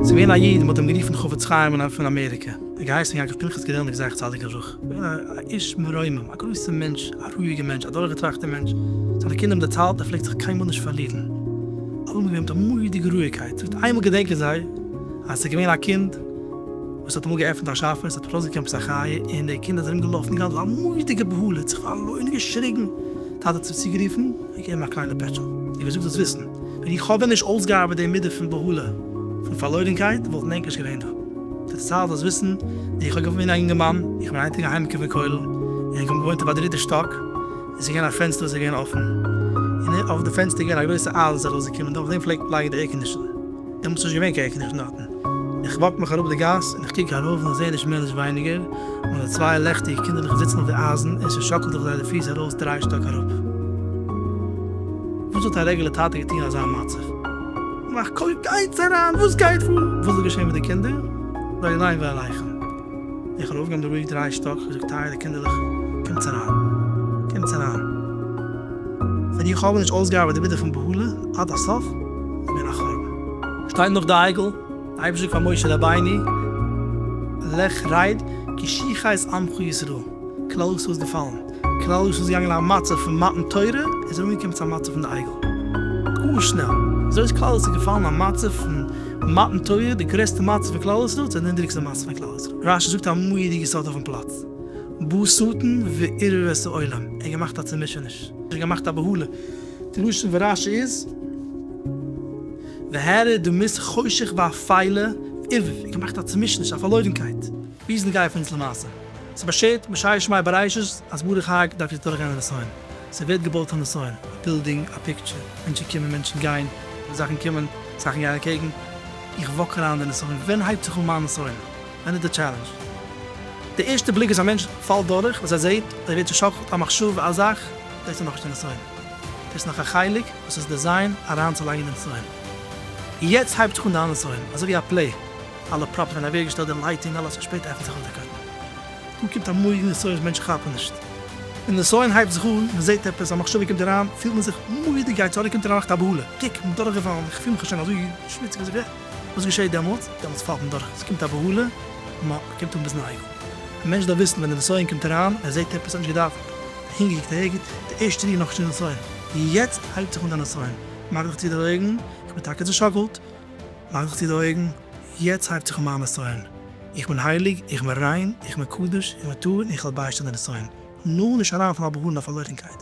ס'געווען א איד מ'האט אים גערופן חפץ חיים און פון אמעריקע ער האט געהייסן יעקב פנחס געדעלניק זכר צדיק לברכה געווען א איש מרומם א גרויסע מענטש א רואיגע מענטש א דורכגעטראכטע מענטש זיינע קינדער האבן דערציילט ער פלעגט זיך קיינמאל נישט פארלירן אלעמאל געווען מיט א מורא'דיגע רואיגקייט זאגט איינמאל געדענקען זיי אז ס'איז געווען א קינד וואס האט אמאל געעפנט א שאפע, עס האט זיך ארויסגעקעמט עפעס א חיה, און די קינדער זענען ארומגעלאפן געהאט א מורא'דיגע בהלה, האט זיך פארלוירן, געשריגן, טאטע האט זיך צוגערופן, געגעבן אים א קליינע פעטשל, און געזאגט זאלסט וויסן, ווען איך האב ווען נישט אויסגעארבעט די מידה פון בהלה, פון פארלוירנקייט, וואלטן ענק נישט געווען דא. די צייט זאלסט וויסן, ווי איך האב געוואוינט ווי אן אינגערמאן, איך בין היינט אינגאנג אהיימקום פון כולל, און איך האב געוואוינט אויף א דריטע שטאק, עס איז געווען א פענסטער וואס איז געווען אפן, און אויף די פענסטער איז געווען א גרויסע אייז וואס איז ארויסגעקומען, און אויף דעם פלעגט לייגן די עירקאנדישאן, דעמאלטס איז נישט געווען קיין עירקאנדישאן דארט. איך וואק מיך אראפ די גאס און איך קוק ארויף און איך זעה נישט מער נישט ווייניגער נאר די צוויי לעכטיגע קינדערלעך זיצן אויף די אייזן און ס'שאקלט זיך זיי די פיס ארויס דריי שטאק אראפ. וואס האט א רעגולער טאטע געטון אין אזא מצב? מאך קויפ גייטס אריין וואס גייט פאר? וואס איז געשען מיט די קינדער? לא עליי ועליכם. איך האב אויפגעהויבן די רוק דריי שטאק איך האב געזאגט טייערע קינדערלעך קומטס אריין קומטס אריין ווען איך האב נישט אויסגעארבעט די מידה פון בהלה עד הסוף איז געווען א חורבן. שטייט נאך די אייגל אייבערשטער פאר משה רבינו, לך רייד כי שיחה את עמך ישראל, כלל ישראל איז געפאלן, כלל ישראל איז געגאנגען אין א מצב פון מתן תורה, און זענען אנגעקומען צו א מצב פון די אייגל, גאר שנעל, אזוי איז כלל ישראל געפאלן אין א מצב פון מתן תורה, די גרעסטע מצב פון כלל ישראל צו די נידעריגסטע מצב פון כלל ישראל, רשי זאגט א מורא'דיגע סוד אויפן פלאץ, בא שטן וערער את העולם, ער האט געמאכט א צומישעניש, ער האט געמאכט א בהלה, די לשון פון רשי איז. והערה, דו מוזט חושך ביי א פיילע איב און געמאכט א צומישעניש, א פארלוירנקייט. וויאזוי גייען פון אונז למעשה? ס'איז באשערט בשער שמאי בראשית אז ברוך האג דארף יעצט דורכגיין א נסיון. ס'ווערט געבויט א נסיון, א בילדינג, א פיקטשער, מענטשן קומען, מענטשן גיין, זאכן קומען, זאכן גייען אקעגן. איך וואק אריין אין די נסיון, ווען הייבט זיך אן מיין נסיון? ווען איז די טשעלענדזש? די ערשטע בליק וואס א מענטש פאלט דורך, וואס ער זעהט, ער ווערט צושאקלט, א מחשבה, א זאך, דאס איז נאכנישט די נסיון. דאס איז נאך א חלק וואס איז דעזיין אריינצולייגן דעם פאון. יעצט הייבט זיך אן די אנדערע פאון, אזוי ווי א פלעי, אלע פראפס ווערן אוועקגעשטעלט, די לייטינג, אלעס און שפעטער עפנט זיך אויף די קאפ. דא קומט א מארגן די סאונד, מענטשן כאפן נישט. ווען די סאונד הייבט זיך אן, מען זעט עפעס, א מחשבה קומט אריין, פילט מען זיך מורא'דיג גייט צוריק קומט אריין נאך א בהלה, קיק, כ'בין דורכגעפאלן, כ'פיל מיך שוין אזוי שמוציג אזוי ווי ע. וואס געשעהט דעמאלטס? דעמאלטס פאלט מען דורך, עס קומט א בהלה און מען קומט אן ביזן אייגל. א מענטש דארף וויסן ווען די נסיון קומט אריין, ער זעהט עפעס, ער האט נישט געדאווענט, אהינגעקוקט אהערגעץ, די ערשטע ריר נאך שנת נסיון, יעצט הייבט זיך אן די נסיון, מאך דיך צו די אויגן, איך בין טאקע צושאקלט, מאך דיך צו די אויגן, יעצט הייבט זיך אן מיין נסיון, איך בין הייליג, איך בין ריין, איך בין קדוש, איך בין טהור און איך וועל ביישטיין די נסיון, נאר נישט אריינפאלן א בהלה און א פארלוירנקייט.